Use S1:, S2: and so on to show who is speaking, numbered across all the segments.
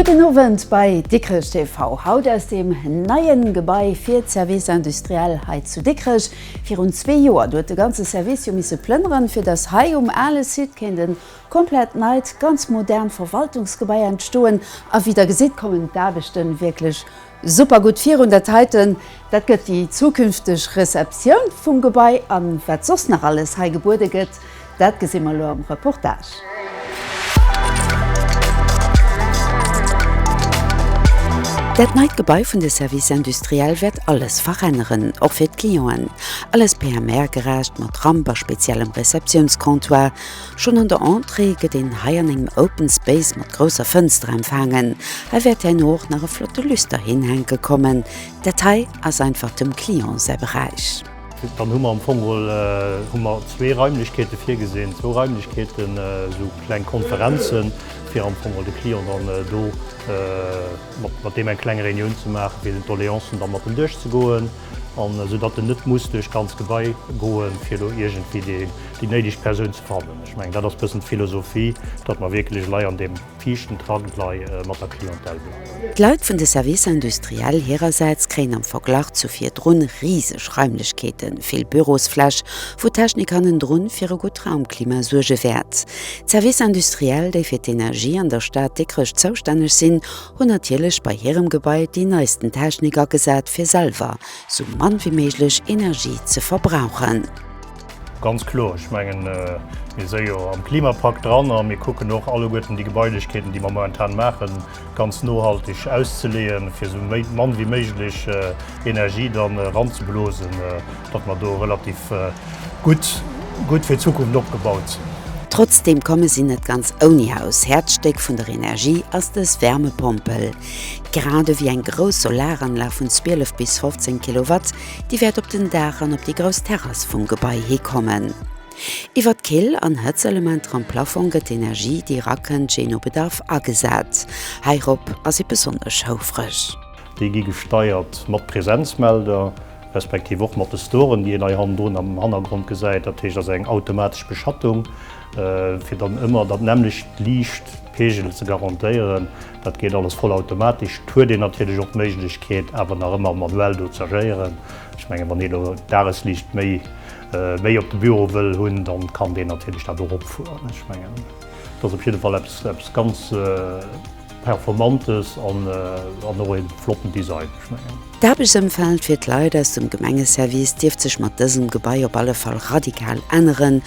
S1: Gudden Owend bei Dikrech TV. Haut aus dem neien Gebai fir d'Services industriels hei zu Dikrech. Virun zwee Joer, do huet de ganze Service jo misse plënneren, fir dass hei um ale Site kéint e komplett neit, ganz modern Verwaltungsgebai entstoen. A wéi Der gesitt, kommen d'Aarbechte wierklech super gutt virun. Dat heiten, dat gëtt déi zukünfteg Receptioun vum Gebai. A wat soss nach alles hei gebuede gëtt, Dat gesi mer elo am Reportage. Dat neit Gebai vun de Services industriels wäert alles veränneren, och fir d'Clienten. Alles PMR-gerecht, mat Ramp a speziellem Receptiounscomptoir. Schonn an der Entrée gëtt een hei an engem Open Space mat grousser Fënster empfaangen. Hei wäert herno och nach e flotte Lüsterheen hänke kommen. Dat hei ass einfach dem Client säi Beräich. Dann hu mer am
S2: Fong mol hu mer zwee Raimlechkeete virgesinn, zwou Raimlechkeeten, esou kleng Konferenze fir am Fong mol de Client dann do mat deem eng kleng Reunioun ze maachen, fir den d'Doleancen da mat em duerchzegoen, an esou datt en net muss duerch d'ganz Gebai goen, fir do iergendwéi déi néideg Persoun ze fannen. Ech mengen, dat ass e bëssen d'Philosophie, datt mer wierklech elei an deem. Fiichten Trank nei mat der Clientèle bleiwen. D'Leit vun de Services
S1: industriels hirersäits kréien am Verglach zu virdrun riseg Raimlechkeeten, vill Bürosfläch, wou d'Technik hannendrun fir e gutt Raumklima suerge wäert. D'Services industriels, déi fir d'Energie an der Stad Dikrech zoustänneg sinn, hunn natierlech bei hirem Gebai déi neisten Technik agesat, fir selwer sou mann wéi méiglech Energie ze verbrauchen. Ganz
S2: kloer. Ech mengen, mir si jo am Klimapakt dran a mir kucken och alleguerten déi Gebailechkeeten, déi mer momentan maachen, ganz nohalteg auszeleeën, fir esou mann wéi méiglech Energie da ranzeblosen, datt mer do relativ gutt fir d'Zukunft opgebaut sinn. Trotzdeem komme
S1: si net ganz ouni Haus. Häerzstéck vun der Energie ass dës Wärmepompel. Grad ewéi eng grouss Solaranlag vun 12 bis 15 Kilowatt, déi wäert op den Daach an op déi grouss Terrass vum Gebai hi kommen. Iwwer d'Kill an Hëtzelementer am Plafong gëtt d'Energie, déi erakënnt, jee no Bedarf agesat. Heirop ass ee besonnesch houfreg. Déi gi
S2: gesteiert mat Presenzmelder, respektiv och mat de Storen, déi een hei hannendrun am Hannergrond gesäit. Dat heescht, dat ass eng automatesch Beschattung, fir dann ëmmer dat nämmlecht Liichtpegel ze garantéieren. Dat geet alles voll automatesch. Et huet een natierlech och d'Méiglechkeet, awer nach ëmmer manuell do z'agéieren. Ech mengen, wann ee lo d'Dagesliicht méi, méi op de Büro wëll hunn, da kann deen natierlech dat och opfueren. Ech mengen, et ass op jidde Fall eppes, eppes ganz Performantes an och e flotten Design, ech mengen. D'Aarbechtsëmfeld
S1: fir d'Leit aus dem Gemengeservice dierft sech mat dësem Gebai op alle Fall radikal änneren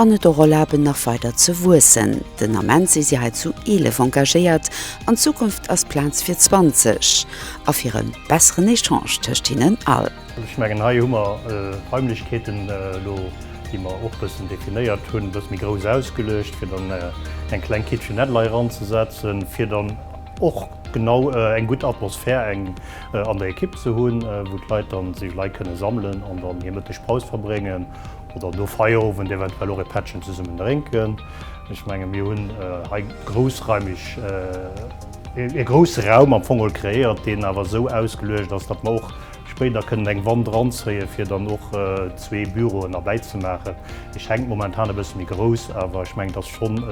S1: an et och erlaben, nach weider ze wuessen. Den Ament si si hei zu 11 engagéiert, an Zukunft ass Plaz fir 20 a fir e besseren Echange tëscht hinnen all. Ech mengen, hei hu mer
S2: d'Raimlechkeeten elo, déi mer och e bëssen definéiert hunn, e bësse méi grouss ausgeluecht, fir dann eng kleng Kitchenette-Lei eranzesetzen, fir dann och, Genau, eng gutt Atmosphär eng an der Ekipp ze hunn, wou d'Leit dann sech elei kënne sammelen an dann hir Mëttegpaus verbréngen oder no Feierowend eventuell och e Pättchen zesummen drénken. Ech menge mir hunn hei groussraimeg e grousse Raum am Fong geholl kreéiert, deen awer esou ausgeluecht ass, datt mer och spéider kënnen eng Wand eranzéien, fir dann och zwee Büroen erbäizemaachen. Déi schenkt momentan e bësse méi grouss, awer ech menge et ass schonn,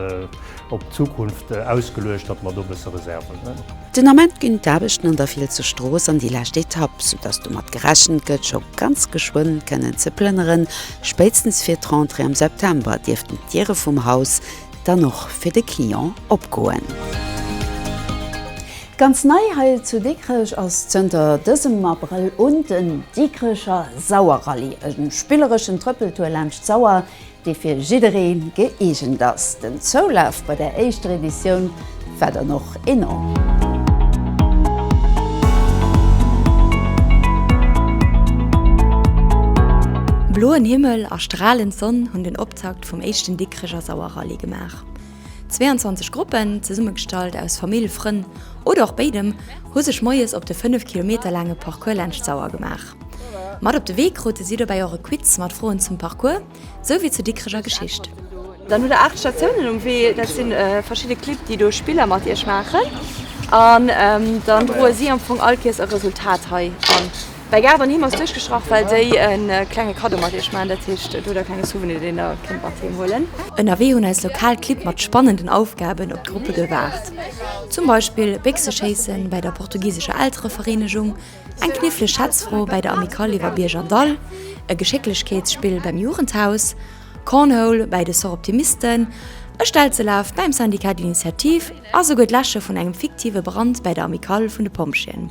S2: Op d'Zukunft ausgeluecht, datt mer do e bësse Reserven hunn. Den Ament
S1: ginn d'Aarbechten an der Fielsche Strooss an déi lescht Etapp, soudatt domat gerechent gëtt, scho ganz geschwënn kënnen ze plënneren. Spéitstens fir d'Rentrée am September dierften d'Diere vum Haus dann och fir de Client opgoen. Ganz nei hei zu Dikrech ass zënter dësem Abrëll un den Dikrecher Sauerrallye, e spillereschen Trëppeltour laanscht d'Sauer, dee fir jidderee gëeegent ass. Den Zoulaf bei der éischter Editioun war dann och enorm.
S3: Bloen Himmel a stralend Sonn hunn den Optakt vum éischten Dikreger Sauer Rallye gemaach. 22 Gruppen, zesummegestallt aus Famill, Frënn oder och béidem, hu sech moies op de 5 Kilometer laange Parcours laanscht d'Sauer gemaach. Mat op de Wee krute si dobäi och e Quiz mat Froen zum Parcours sou wéi zur Dikrecher Geschicht. Dann hutt der 8
S4: Statiounen um Wee, dat si verschidde Clibb, déi do Spiller mat iech maachen an dann droe si am Fong all Kees e Resultat hei an. Bei Gaart an Heem ass duerchgeschrach, well déi e klenge Kaddo mat Iech maachen, dat heescht, et hutt Der e klenge Souvenir, deen Der kënnt mat Heem huelen. Ënnerwee hunn eis
S3: lokal Clibb mat spannenden Aufgaben op d'Gruppe gewaart. Zum Beispill Béchseschéissen bei der portugisescher Elterevereenegung, eng kniffleg Schätzfro bei der Amicale iwwer Bierg an Dall, e Geschécklechkeetsspill beim Jugendhaus, Cornhole bei de Soroptimisten, e Stelzelaf beim Syndicat d'Initiative a souguer d'Läsche vun engem fiktive Brand bei der Amicale vun de Pompjeeën.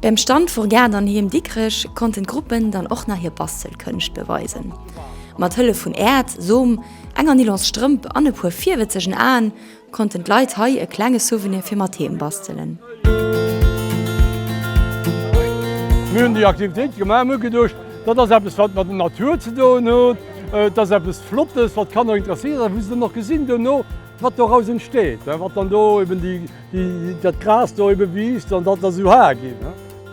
S5: Beim Stand
S3: vur Gaart an Heem Dikrech konnten d'Gruppen dann och nach hir Bastelkënscht beweisen. Mat Hëllef vun Äerd, Som, enger Nylons Strëmp an e puer virwëtzegen Aen konnten d'Leit hei e klenge Souvenir fir mat Heem bastelen.
S6: Mir hunn déi Aktivitéit gemaach, mir hu geduecht, dat ass eppes wat mat der Natur ze doen huet, et ass eppes Flottes wat d'Kanner interesséiert, wou se dann och gesinn duerno, Wat doraus entsteet, wat dann do eben dat Gras do ebe wiisst an dat ass esou haer ginn.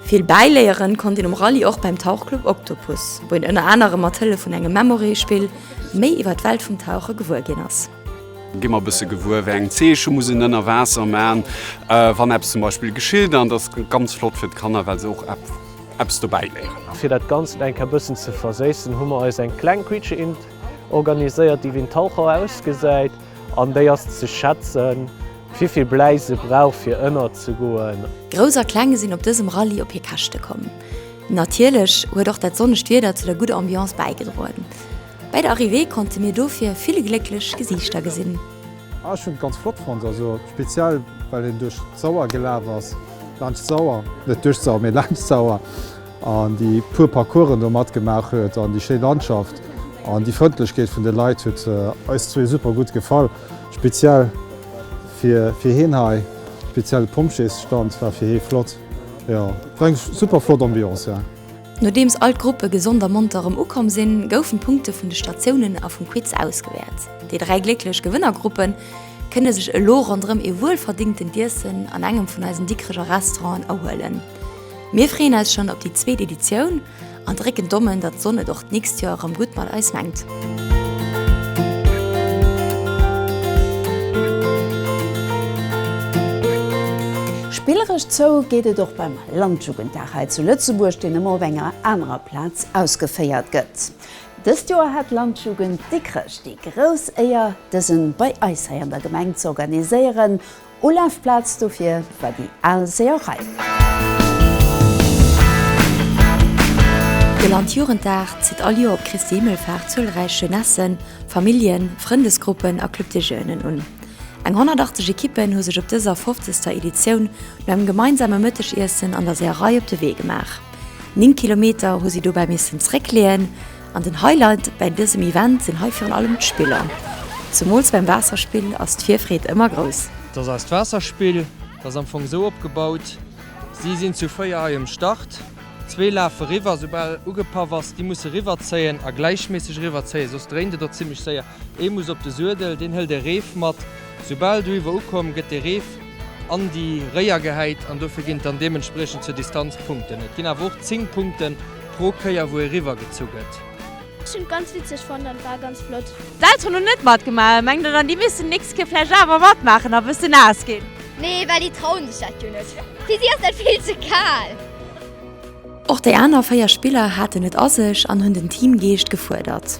S6: Vill
S3: bäiléieren konnt een um Rallye och beim Tauchclub Octopus, wou een ënner anerem mat Hëllef vun engem Memory-Spill méi iwwer d'Welt vum Tauche gewuer ginn ass. Gi mer e bësse
S7: gewuer, wéi eng Zeeche muss een ënner Waasser man, wann eppes zum Beispill geschitt. An et ass ganz flott fir d'Kanner, well se och eppes dobäiléieren. Fir dat Ganzt eng
S8: Kéier bëssen ze verséissen, hu mer eis eng kleng Quiche-Int. organiséiert, déi wéi en Taucher ausgesäit an déi ass ze schätzen, wivill Bläi se brauch fir ënner ze goen. Grouss a Kleng sinn
S3: op dësem Rallye op hir Käschte komm. Natierlech huet och dat sonnegt Wieder zu der gudder Ambiance bäigedroen. Bäi der Arrivée konnte mir dofir vill glécklech Gesiichter gesinn. Ah ech hun et ganz
S9: flott fonnt, also speziell well een duerch d'Sauer gelaaf ass, laanscht d'Sauer, net duerch d'Sauer mee laanscht d'Sauer. an déi puer Parcoursen do matgemaach huet an déi schéi Landschaft an déi Frëndlechkeet vun de Leit huet eis zwee super gutt gefall. Speziell fir fir heen hei, speziell de Pompjeesstand war fir hee flott. Jo, et war eng super flott Ambiance, jo. Nodeems all
S3: d'Gruppe gesond a monter erëm ukomm sinn, goufen d'Punkte vun de Statiounen a vum Quiz ausgewäert. Déi dräi glécklech Gewënnergruppe kënne sech elo ronderëm ee wuelverdéngtent Iessen an engem vun eisen Dikreger Restauranten erhuelen. Mir freeën eis schonn op déi zweet Editioun an drécken d'Dommen, datt d'Sonn et och d'nächst Joer erëm gutt mat eis mengt.
S1: Spilleresch zou geet et och beim Landjugenddag hei zu Lëtzebuerg, deen ëmmer op enger anerer Plaz ausgeféiert gëtt. Dëst Joer hat d'Landjugend Dikrech déi grouss Éier, dësen bei eis hei an der Gemeng z'organiséieren. Ulafplaz dofir war déi al Seeërei.
S3: De Landjugenddag zitt all Joer op Christi Himmelfaart zuelräich Jeunessen, Familljen, Frëndesgruppen a Club de Jeunen un. Eng 180 Ekippen hu sech op dëser 50. Editioun no engem gemeinsame Mëttegiessen an der Seeërei op de Wee gemaach. Néng Kilometer hu si dobäi missen zréckleeën. An den Highlight bäi dësem Event sinn hei virun allem d'Spiller. Zemools bäim Waasserspill ass d'Virfreed ëmmer grouss. Dass eist Waasserspill,
S10: dat ass am Fong esou opgebaut, si sinn zu 4 hei um Start, zwee lafe riwwer, soubal ugepaff ass, déi musse riwwerzéien a gläichméisseg riwwerzéien, soss dréint et och zimmlech séier, ee muss op de Suedel, deen hëlt e Reef mat, soubal do iwwer ukomm, gëtt dee Reef an déi Réier gehäit an dofir ginn et dann deementspriechend zur Distanz Punkten. Et ginn awer och 10 Punkten. Pro Kéier wou ee riwwer gezu gëtt. Ech hun et ganz
S5: witzeg fonnt an et war ganz flott. D'Elteren hun net
S11: matgemaach, mengt der dann déi missten nächst Kéier vläicht awer matmaachen a bëssen naass gin? Nee, well déi
S12: trauen sech dat jo net. Fir si ass dat vill ze kal.
S3: Och déi aner 4 Spiller haten et a sech an hunn den Teamgeescht gefuerdert.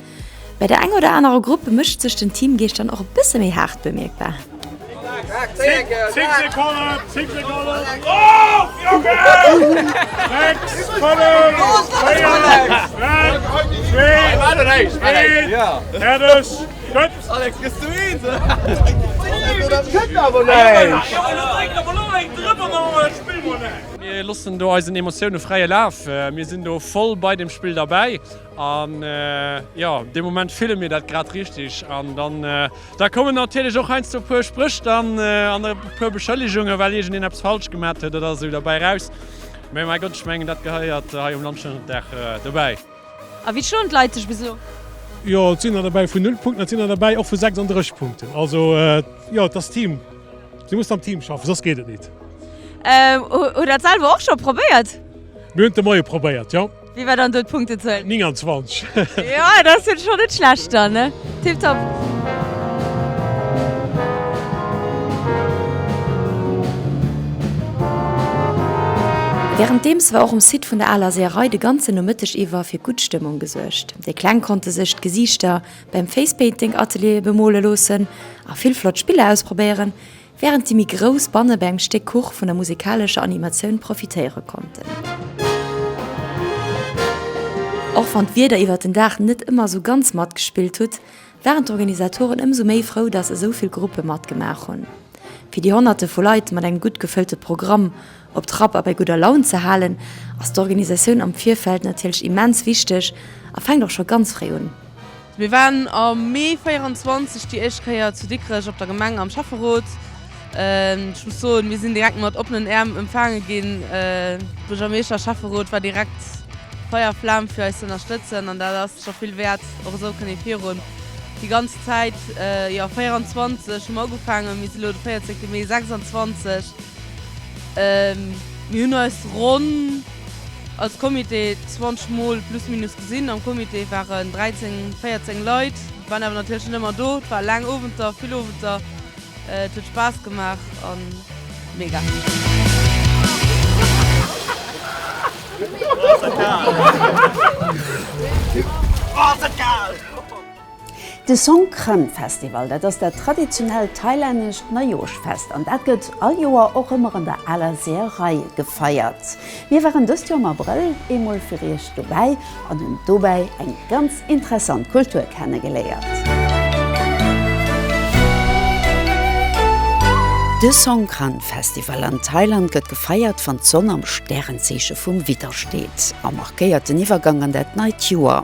S3: Bei der enger oder anerer Grupp mécht sech den Teamgeescht dann och e bësse méi haart bemierkbar.
S13: Mir loossen do eisen Emotioune fräie Laf. Mir sinn do voll bei dem Spill derbäi An jo, dee Moment fille mir dat grad richteg. An dann, da kommen natierlech och heiansdo e puer Spréch dann an e puer Beschëllegungen, well iergendeen eppes falsch gemat huet oder esou derbäi raus. Mee mäi Gott, ech mengen, dat gehéiert hei um Land schonn en Dag dobäi. A wéi schloen
S11: d'Leit sech bis elo? Jo, et sinn
S14: der derbäi vun null Punkten, et sinn der derbäi och vu 36 Punkten. Also jo, et ass Team. Du muss am Team schaffen, soss geet et nit.
S11: Hutt Der et selwer och scho probéiert? Mir hunn et de Moie
S14: probéiert, jo. Wéi war dann do d'Punktezuel? 29. Jo, dat ass
S11: jo scho net schlecht dann, ne? Tipptopp.
S3: Wärenddeems war och um Site vun der Aler Seeërei de ganzen Nomëtteg iwwer fir gutt Stëmmung gesuergt. Déi Kleng konnte sech d'Gesiichter beim Face-Painting-Atelier bemole loossen a vill flott Spiller ausprobéieren, Während déi méi grouss Banne bei engem Stéck Kuch vun der musikalescher Animatioun profitéiere konnten. Och wann d'Wieder iwwert den Dag net ëmmer esou ganz matgespillt hutt, waren d'Organisatoren ëmsou méi frou, dass esou vill Gruppe matgemaach hunn. Fir déi Honnerte vu Leit mat engem gutt gefëllte Programm, Op Trapp a bei gudder Laun ze halen, ass d'Organisatioun am Virfeld natierlech immens wichteg a fänkt och scho ganz fréi un. Mir waren
S15: am Mee 24 déi éischt Kéier zu Dikrech op der Gemeng am Schäfferot. Ech muss soen, mir sinn direkt mat oppenen Äerm empfaange ginn. Buergermeeschter, Schäfferot war direkt Feier a Flam fir eis ze ënnerstëtzen an dat ass scho vill wäert. Och esou kënnt ee virun. Déi ganz Zäit, jo 24 hu mer ugefaangen, mir si elo de 14. Mee 26. Mir hunn eis ronn als Comité 20 mol plus minus gesinn. Am Comité waren 13, 14 Leit, waren awer natierlech net ëmmer do. Et war laang Owenter, vill Owenter, et huet Spaass gemaach a mega.
S1: De Songkran Festival, dat ass dat traditionellt thailännescht Neijoschfest an dat gëtt all Joer och ëmmer an der aler Seeërei gefeiert. Mir waren dëst Joer am Abrëll eemol fir iech dobäi an hunn dobäi eng ganz interessant Kultur kennegeléiert. De Songkran Festival an Thailand gëtt gefeiert wann d'Sonn am Stärenzeeche vum Widder steet a markéiert den Iwwergang an dat neit Joer.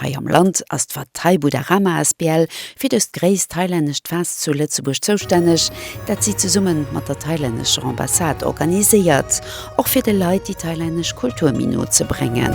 S1: Hei am Land ass d'Wattay Buddharama Asbl fir dëst gréisst thailännescht Fest zu Lëtzebuerg zoustänneg, dat si zesumme mat der thailännescher Ambassade organiséiert, och fir de Leit déi thailännesch Kultur méi no ze bréngen.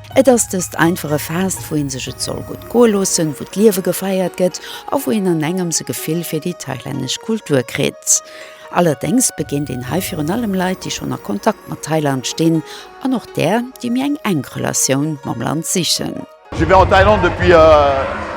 S1: Et ass dëst einfache Faasst, wou een sech et soll gutt goe loossen, wou d'Liewe gefeiert gëtt a wou een an engems e Gefill fir déi thailännesch Kultur kritt. Allerdéngs begéint een hei virun allem Leit, déi schonn a Kontakt mat Thailand stinn an och där, déi méi eng enk Relatioun mam Land sichen.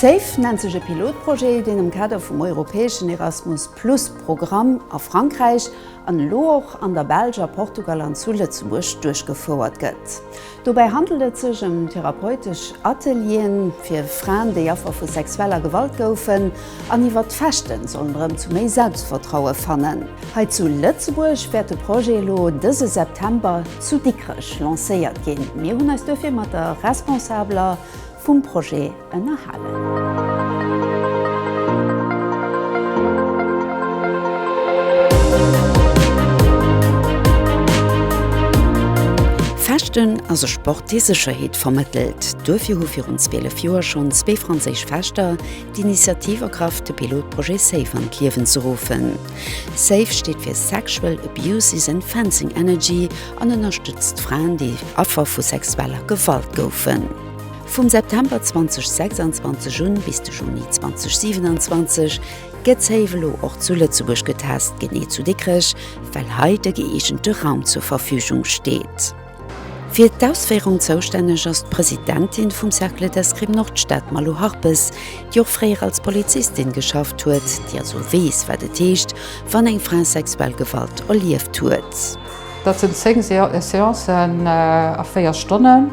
S1: Safe nennt sech e Pilotprojet, deen am Kader vum europäeschen Erasmus Plus Programm a Frankräich an elo och an der Belsch, a Portugal an zu Lëtzebuerg duerchgefouert gëtt. Dobäi handelt et sech ëm therapeutesch Ateliere fir Fraen, déi Affer vu sexueller Gewalt goufen an iwwert d'Fechten sollen erëm zu méi Selbstvertraue fannen. Hei zu Lëtzebuerg wäert de Projet elo dëse September zu Dikrech lancéiert ginn. Mir hunn eis duerfir mat der responsabeler vum Projet ënnerhalen. Fechten ass e Sport, dee Sécherheet vermëttelt. Duerfir hu virun 12 Joer schonn zwee franséisch Fechter d'Initiativ ergraff, de Pilotprojet Safe an d'Liewen ze ruffen. Safe steet fir Sexual Abuse Isn't Fencing Energy An ënnerstëtzt Fraen, déi Affer vu sexueller Gewalt goufen. Vum September 2026 un bis de Juni 2027 gëtt Safe elo och zu Lëtzebuerg getest, genee zu Dikrech, well hei de gëeegente Raum zur Verfügung steet. Fir d'Ausféierung zoustänneg ass d'Presidentin vum Cercle d'Escrime Nordstad, d'Malou Harpes, déi och fréier als Polizistin geschafft huet, déi also weess, wat et heescht, wann eng Fra sexuell Gewalt erlieft huet. Dat sinn
S16: 10 Seancen a 4 Stonnen,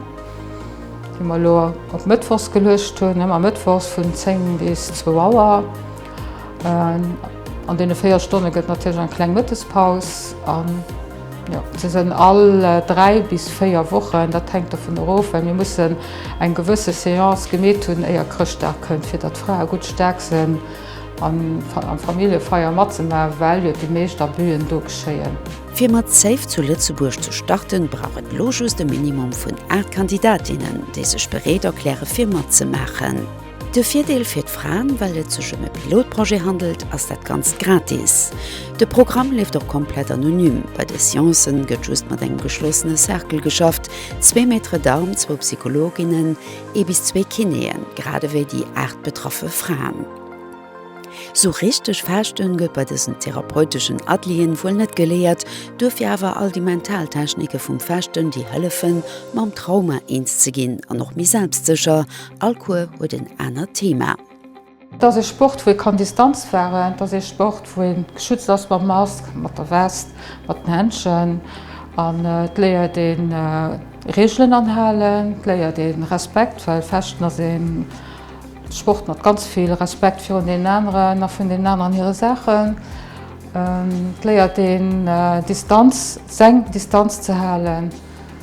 S16: déi mer elo op mëttwochs geluecht hunn, ëmmer mëttwochs vun 10 bis 2 Auer. An deene 4 Stonne gëtt natierlech eng kleng Mëttespaus. An jo, se sinn all 3 bis 4 Wochen, dat hänkt dovun erof, well mir mussen eng gewësse Seance gemeet hunn, éier Chrëschtdag kënnt, fir datt d'Frae gutt staark sinn. an der Familljefeier matzemaachen, well jo déi meescht Abüen do geschéien. Fir mat Save
S1: zu Lëtzebuerg ze starten, brauch et elo just e Minimum vun 8 Kandidatinnen, déi sech bereet erklären, fir matzemaachen. De Virdeel fir d'Fraen, well et sech ëm e Pilotprojet handelt, ass dat Ganzt gratis. De Programm leeft och komplett anonym. Bei de Seancen gëtt just mat engem geschlossene Cercle geschafft, zwee Maîtres d'armes, zwou Psychologinnen, Ee bis zwee Kinéen, grad ewéi déi 8 betraffe Fraen. Sou richteg Faaschten gëtt bei dësen therapeuteschen Atelieren wuel net geléiert, duerfir awer all déi mental Technike vum Faaschten, déi hëllefen, mam Trauma eens ze ginn an och méi selbstsécher. All Cours huet en anert Thema. Et ass ee
S16: Sport, wou ee kann Distanz waren. Et ass ee Sport, wou ee geschützt ass mam Mask, mat der West, mat den Händschen. An et léiert ee Reegelen anhalen, et léiert ee Respekt, well Fechten ass ee Sport mat ganz vill Respekt virun deenen aneren a vun deenen aneren hire Saachen. Et léiert een Distanz, seng Distanz ze halen.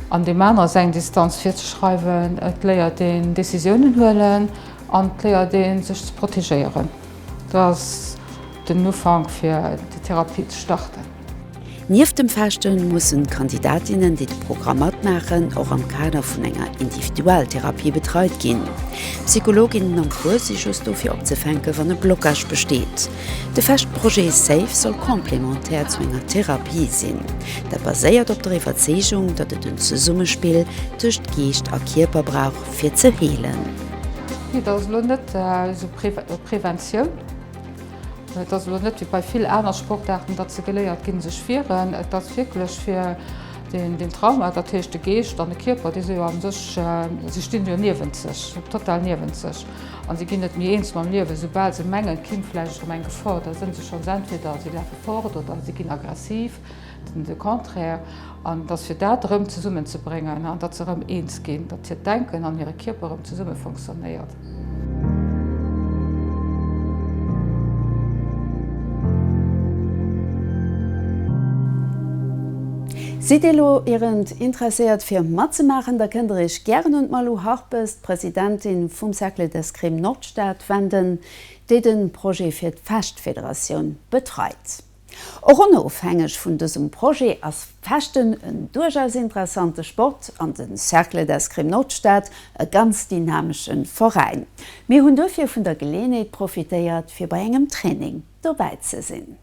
S16: An deem anere seng Distanz virzeschreiwen. Et léiert een Decisiounen huelen an et léiert ee sech ze protegéieren. Dat ass den Ufank fir déi Therapie ze starten. Nieft dem
S1: Fechten mussen d'Kandidatinnen, déi de Programm matmaachen, och am Kader vun enger Individualtherapie betreit ginn. Psychologinnen am Cours si just do fir opzefänken, wann e Blocage besteet. De Fest Projet Safe soll complémentaire zu enger Therapie sinn. Dat baséiert op der Iwwerzeegung, datt et en Zesummespill tëscht Geescht a Kierper brauch fir ze heelen. Et
S16: ass elo net esou Preventioun, et ass elo net wéi bei vill aner Sportaarten, datt se geléiert ginn sech wieren. Et ass wierklech fir den Trauma, dat heescht de Geescht an de Kierper, déi si jo a sech, si stinn jo niewent sech, total niewent sech. an si ginn net méi eens mam Liewen, soubal se mengen, d'Kinn vläicht erëm eng Gefor da sënn se schonns entweder si lafe fort oder si ginn aggressiv, de Contraire, an datt fir dat erëm zesummen ze bréngen, datt se erëm eens ginn, datt hiert Denken an hire Kierper erëm zesumme fonctionnéiert.
S1: Sidd Dir elo ierend interesséiert fir matzemaachen, da kënnt der Iech gären un d'Malou Harpes, Presidentin vum Cercle d'Escrime Nordstad wenden, déi de Projet fir d'Fechtfederatioun betreit. Och onofhängeg vun dësem Projet ass Fechten en duerchaus interessante Sport an de Cercle d'Escrime Nordstad e ganz dynamesche Veräin. Mir hunn duerfir vun der Geleeënheet profitéiert fir bei engem Training dobäi ze sinn.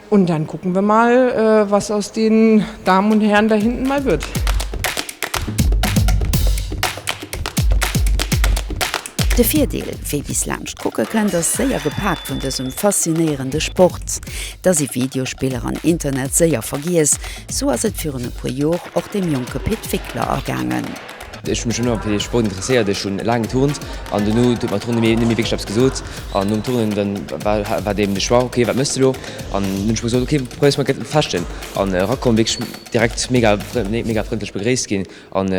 S2: Und dann gucken wir mal, was aus den Damen und Herren da hinten mal wird.
S1: De Virdeel, wee bis laanscht kucke kënnt, ass séier gepaakt vun dësem faszinéierende Sport. Da si Videospiller an Internet séier vergiess. Sou ass et virun e puer Jor och dem jonke Pit Wickler ergaangen. Ech hu mech ëmmer
S4: fir de Sport interesséiert. Ech hu laang geturnt an dono huet mer d'Turnen net méi wierklech eppes gesot. An nom Turnen dann war deem de Choix, ok wat méchs de elo? An dunn hunn ech mer gesot, ok probéiers mol gëtt Fechten. An erakomm, wierklech direkt mega mega frëndlech begréisst ginn an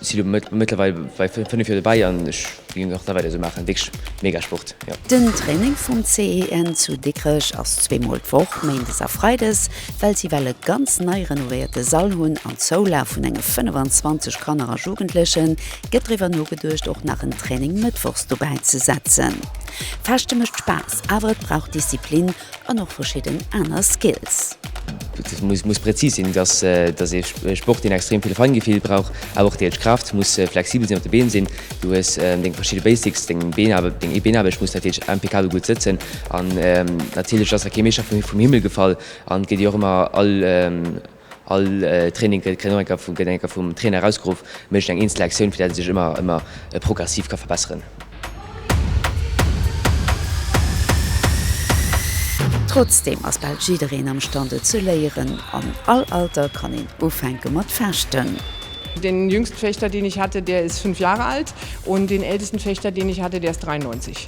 S4: si elo mëttlerweil bei fënnef Joer dobäi an ech. Vill Glück nach da bei der Sumaachen, wierklech mega Sport jo. Den Training vum
S1: CEN zu Dikrech ass zwee mol d'Woch, Méindes a Freides, well si well e ganz nei renovéierte Sall hunn an Zoulaf vun enge 25 Kanner a Jugendlechen gëtt driwwer nogeduecht och nach en Training Mëttwochs dobäi ze setzen. Fechte mécht Spaass, awer et brauch Disziplin An och verschidden aner Skills. Et
S4: muss präzis sinn, dass ee Sport, deen extrem vill Feingefill brauch, awer och deels Kraaft, muss flexibel sinn, op de Been sinn, du hues deng verschidde Basics, deng Beenaarbecht, deng Beenaarbecht muss natierlech impeccabel gutt sëtzen an natierlech ass da kee Meeschter vum Himmel gefall an et gëtt jo och ëmmer all All Training gëtt eng Kéier vum Trainer erausgeruff, mécht eng eenzel Aktioun, fir dat et sech ëmmer progressiv ka verbesseren.
S1: Trotzdeem ass bal jiddereen am Stand et ze léieren. An all Alter kann een ufänke mat Fechten. Den jüngsten
S2: Fechter deen ich hatte der ist 5 Jahre alt und den ältesten Fechter deen ich hatte der ist 93.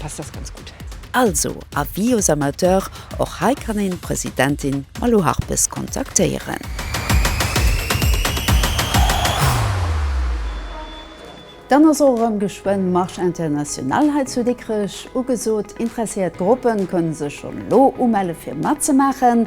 S2: passt das ganz gut. Also avis
S1: aux amateurs, och hei kann een d'Presidentin Malou Harpes kontaktéieren. Dann ass och erëm geschwënn Marche internationale hei zu Dikrech ugesot. Interesséiert Gruppen kënnen sech schonn elo umelle fir matzemaachen.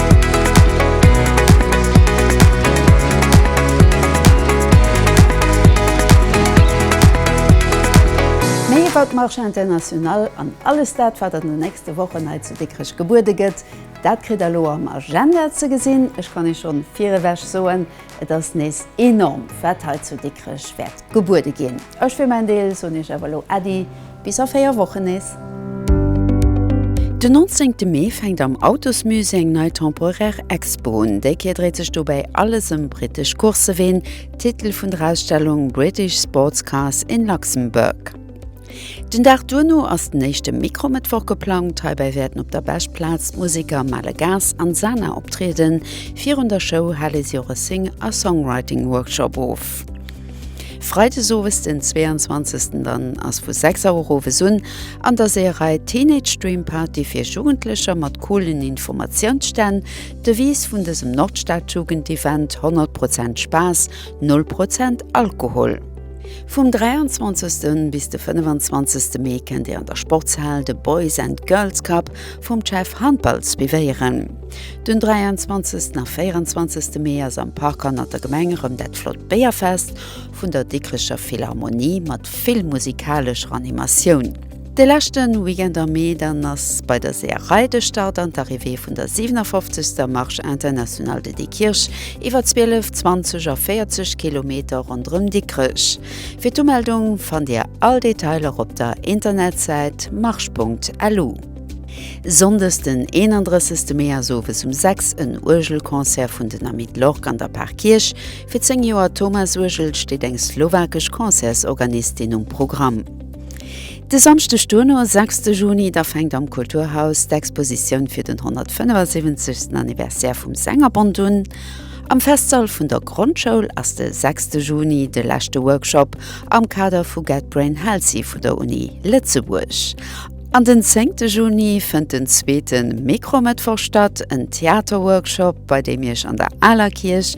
S1: Méi iwwert d'Marche Internationale an alles dat, wat an den nächste Wochen hei zu Dikrech gebuede gëtt, dat kritt der elo am Agenda ze gesinn. Ech kann Iech schonn virewech soen, Et ass nees enorm, wat hei zu Dikrech wäert gebuede ginn. Ech fir mäin Deel soen iech awer elo Äddi, bis a 4 Wochen nees. Den 19 Mee fänkt am Autosmusée eng nei temporaire Expo un. Déi Kéier dréit sech dobäi alles ëm brittesch Courseween, Titel vun der Ausstellung British Sports Cars in Luxembourg. Den Dag duerno ass den éischte Mikromëttwoch geplangt. Heibäi wäerten op der Bech-Plaz d'Museker Male Gas an Sana optrieden. Virun der Show hale si och e Sing a Songwriting-Workshop of. Freides owes, den 22. Dann ass vu 6 Auer owes un an der Seeërei Teenage Dream Party fir Jugendlecher mat coolen Informatiounsstänn. D'Devise vun dësem Nordstadjugendevent, 100 Prozent Spaass, null Prozent Alkohol. Vum 23. bis de 25. Mee kennt dir an der Sportshal de Boys and Girls Cup vum CEF Handball suivéieren. Den 23. a 24. Mee ass am Park hannert der Gemeng erëm dat flott Béierfest vun der Dikricher Philharmonie mat vill musikalesch Animatioun. De leschte Weekend am Mee dann ass bei der Seeërei de Start an d'Arrivée vun der 57. Marche Internationale de Dikrich iwwer 12, 20 a 40 Kilometer ronderëm Dikrech. Fir d'Umeldung fannt Dir all Detailer op der Internetsäit marche.lu. Sonndes den 31 Mee ass owes um 6 en Uergelconcert vun den Amis de l'Orgue an der Parkierch. Fir 10 Joer Thomas Uergel steet eng slowakesch Concertsorganistin um Programm. De Samschdeg duerno, sechste Juni, da fänkt am Kulturhaus d'Expositioun fir den 175. Anniversaire vum Sängerbond un. Am Festsall vun der Grondschoul ass de sechste Juni de leschte Workshop am Kader vu Get Brain Healthy vu der Uni Lëtzebuerg. An den zéngte Juni fënnt den zweete Mikromëttwoch statt, en Theaterworkshop, bei deem Iech an der aler Kierch,